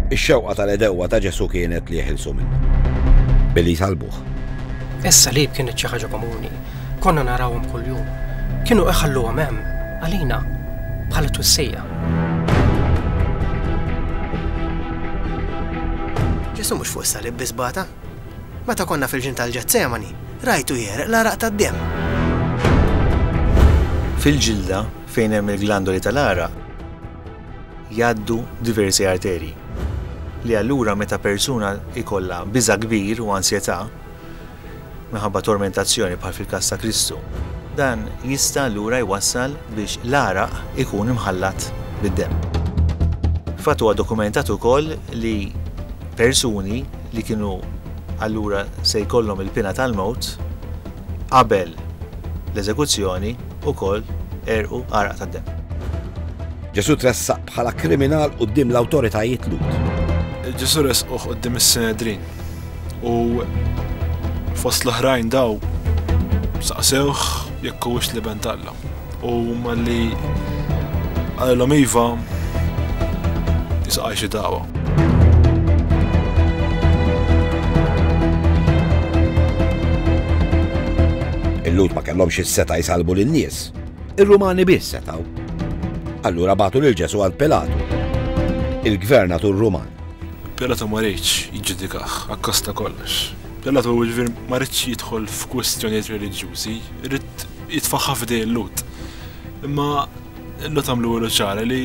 Ix-xewqa tal-edewwa ta' Ġesu kienet li jeħilsu minna. Billi jsalbuh. Issa li kienet xi ħaġa komuni. Konna narawhom kuljum. Kienu iħalluhom hemm għalina bħala twissija. Ġesu mhux fuq salib bisbata. Meta konna fil-ġin tal-ġezzemani, rajtu jereq l-araq tad-dem. Fil-ġilda Fejn hemm il-glandoli tal-għaraq jgħaddu diversi arterji li allura meta persuna jkollha biża' kbir u ansjetà minħabba tormentazzjoni bħal fil-każ ta' Kristu, dan jista' allura jwassal biex l-għaraq ikun imħallat bid-demm. Fatt huwa dokumentat ukoll li persuni li kienu allura se jkollhom il-piena tal-mewt qabel l-eżekuzzjoni, ukoll għerqu għaraq ta' demm. Ġesù tressaq bħala kriminal quddiem l-awtoritajiet Lhud. Ġesù ressquh quddiem is-Sinedrin u fost l-oħrajn daw saqsewh jekk huwiex l-iben talla. U malli qalilhom iva Isqaj xi dagħwa. Il-Lhud ma kellhomx is-seta' jsalbu lin-nies. Ir-Rumani biss setgħu. Allura bagħtu lil Ġesù għand Pilatu. Il-gvernatur Ruman. Pilatu ma riedx jiġġudikah akkosta kollox. Pilatu ġifier ma riedx jidħol f'kwistjonijiet reliġjużi, ried jitfaħħa f'idej il-Lhud. Imma Illu tagħmlu ilu ċara li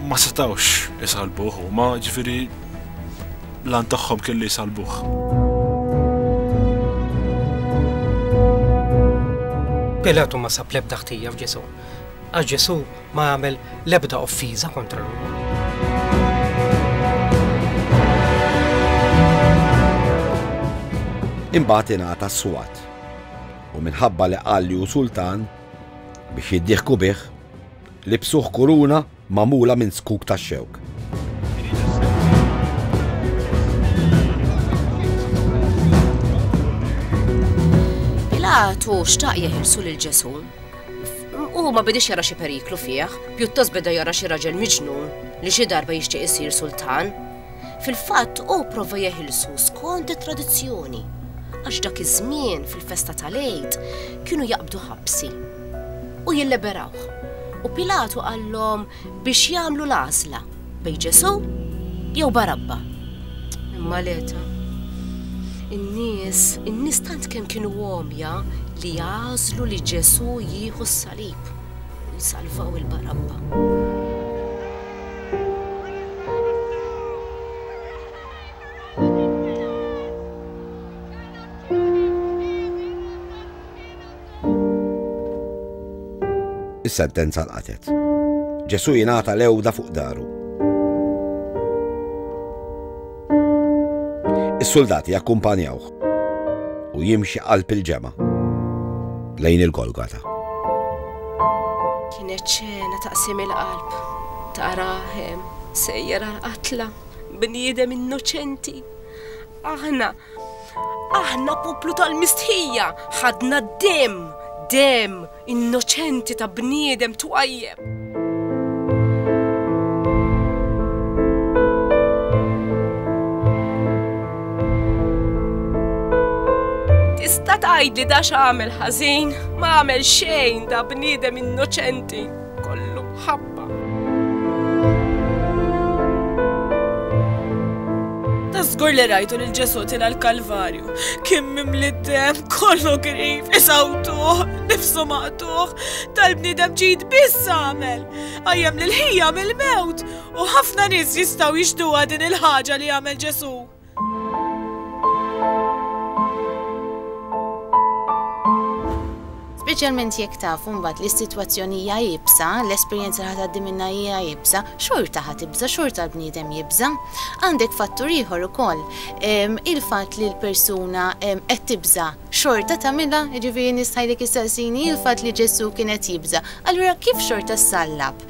ma setawx isalbuh u ma ġifiri lan tagħhom kelli jisalbuh. Pilatu ma sab lebda ħtija f'Ġesu. Għax Ġesu ma għamel lebda offiża kontra l Imbagħad ingħata s-swat. U minħabba li qal li hu sultan, Biex jiddieħku bih, libsuh kuruna magħmula minn zkuk tax-xewk. Pilatu xtaq jeħilsu lil Ġesu. U ma bidix jara xi periklu fih, pjuttost beda jara xi raġel miġnun li xi darba jixtieq isir sultan. Fil-fatt hu pprova jeħilsu skont it-tradizzjoni għax dak iż-żmien fil-festa tal-Għid kienu jaqbdu ħabsi u jilleberawh u Pilatu qallhom biex jagħmlu l-għażla bejn Ġesù jew Barabba. Imma l-eta. In-nies, in-nies tant kemm kienu għomja li għażlu li Ġesù jieħu s-salib. Salvaw il-barabba. Is-sentenza l-qatet. Ġesu jingħata l-ewda fuq daru. Is-soldati jakkumpanjawh. u jimxi qalb il-ġemgħa lejn il-Golgota. Kienet ċena ta' qsim il-qalb, ta' raħem, sejjer għal-qatla, bniedem innoċenti. Aħna, aħna poplu tal-mistħija, ħadna d-dem, dem, Innoċenti ta' bniedem twajjeb. Tista' tgħidli da x'għamel ħażin? Ma għamel xejn da bniedem innoċenti. kollu ħabba. Tasgur li rajtu lil Ġesu tina l-Kalvarju, kien mimli dem kollu grif, isawtuħ, nifsu maqtuħ, tal-bnidem ġid biss għamel, għajem l-ħija mill-mewt, u ħafna nis jistaw jixduwa din il-ħagġa li għamel Ġesu. Speċjalment jekk tafu mbagħad li s-sitwazzjoni hija iebsa, l-esperjenza li ħa tgħaddi minnha hija iebsa, xorta ħa tibża', xorta l-bniedem jibża'. Għandek fattur ieħor ukoll, il-fatt li l-persuna qed tibża' xorta tagħmilha, jiġifieri nista' ngħidlek issaqsini il-fatt li Ġesù kien qed jibża', allura kif xorta ssallab?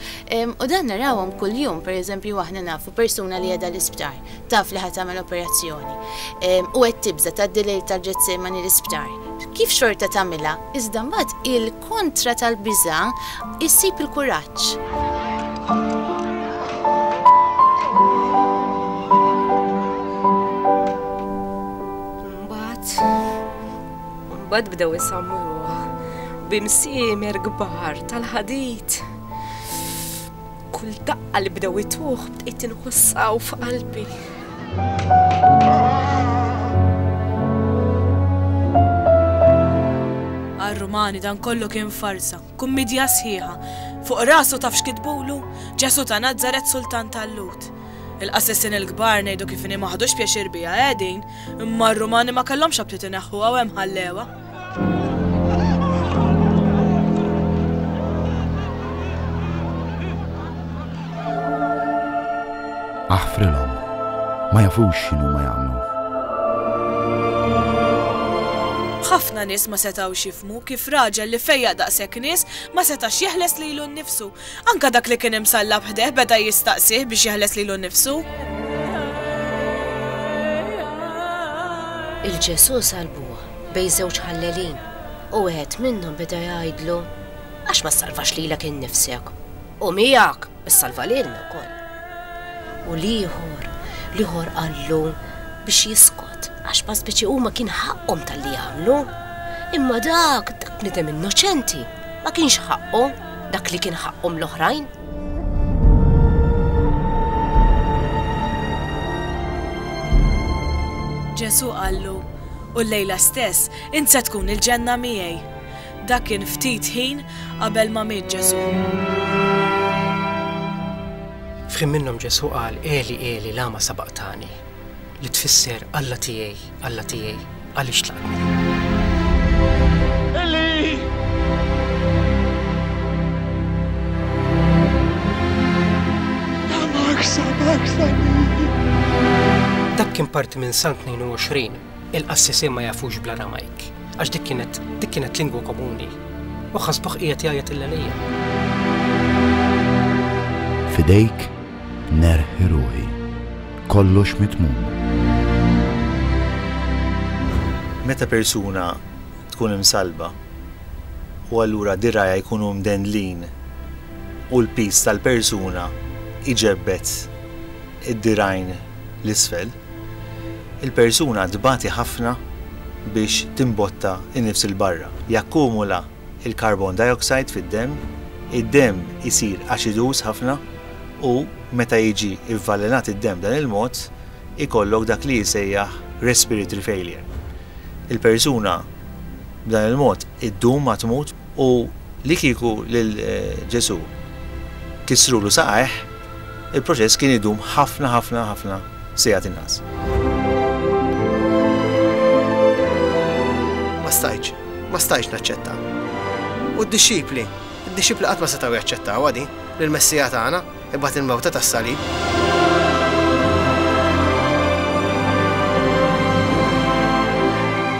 U dan narawhom kuljum, pereżempju aħna nafu persuna li qiegħda l-isptar. Taf li ħa tagħmel operazzjoni. U qed tibża' tgħaddi lejl tal-Ġetsemani l-isptar. Kif xorta tagħmilha, iżda mbagħad il-kontra tal-biża' issib il-kuraġġ. Imbagħad bdew isammuh b'imsiemer kbar tal-ħadid. Kull daqqa li bdew ituh bdejt inħosshaw f'qalbi. Għar-Rumani dan kollu kien farsa, kummidja sħiħa. Fuq rasu taf x'kitbulu? Ġesù ta' Nazaret Sultan tal-Lhud. Il-qassisin il-kbar ngħidu kif inhi ma ħadux pjaċir biha, eh din? Imma r-Rumani ma kellhomx aptit ineħħuha u hemm ħallewha. Aħfrilhom, ma jafux x'inhuma jagħmlu. Ħafna nies ma setgħux jifhmu kif raġel li fejjaq daqshekk nies ma setax jeħles lilu nnifsu. Anke dak li kien imsallab ħdejh beda jistaqsih biex jeħles lilu nnifsu. Il-Ġesù salbuha. bejn żewġ ħallelin, u wieħed minnhom beda jgħidlu, Għax ma ssalvax lilek innifsek, u miegħek issalva lilna wkoll. U l-ieħor, l-ieħor qallu biex jiskot, għax ma speċi huma kien ħaqqhom tal-li jagħmlu. Imma dak, dak nidem innoċenti, ma kienx ħaqqu dak li kien ħaqqhom l-oħrajn. Ġesu qallu, u llejla stess int se tkun il-ġenna miegħi. Dak kien ftit ħin qabel ma miet Ġesù. F'ħin minnhom Ġesù qal Eli Eli lama sabaqtani li tfisser Alla tiegħi, Alla tiegħi, għaliex tlaqtni. Dak kien parti minn Sant 22 Il-qassisin ma jafux bl-Aramajk, għax dik kienet dik kienet lingwa komuni, u ħasbuh qiegħed jgħajjat il-lelija. Fidejk nerħi ruħi, kollox mitmum. Meta persuna tkun imsalba u allura dirajja jkunu mdendlin u l-piż tal-persuna iġebbed id-dirajn l-isfel, Il-persuna tbati ħafna biex timbotta n-nifs 'il barra. Jakkumula l-carbon dioxide fid-demm, id-demm isir aċiduż ħafna u meta jiġi vvalenat id-demm b'dan il-mod ikollok dak li jisejjaħ respiratory failure. Il-persuna b'dan il-mod iddum ma tmut. U li kieku lil Ġesù kissrulu saqajh, Il-proċess kien idum ħafna ħafna ħafna sigħat inqas. Ma stajtx, ma stajtx naċċetta. U d-dixxipli, id-dixxipli qatt ma setgħu jaċċettawha din, li l-Messija tagħna ibgħat il-mewta tas-salib.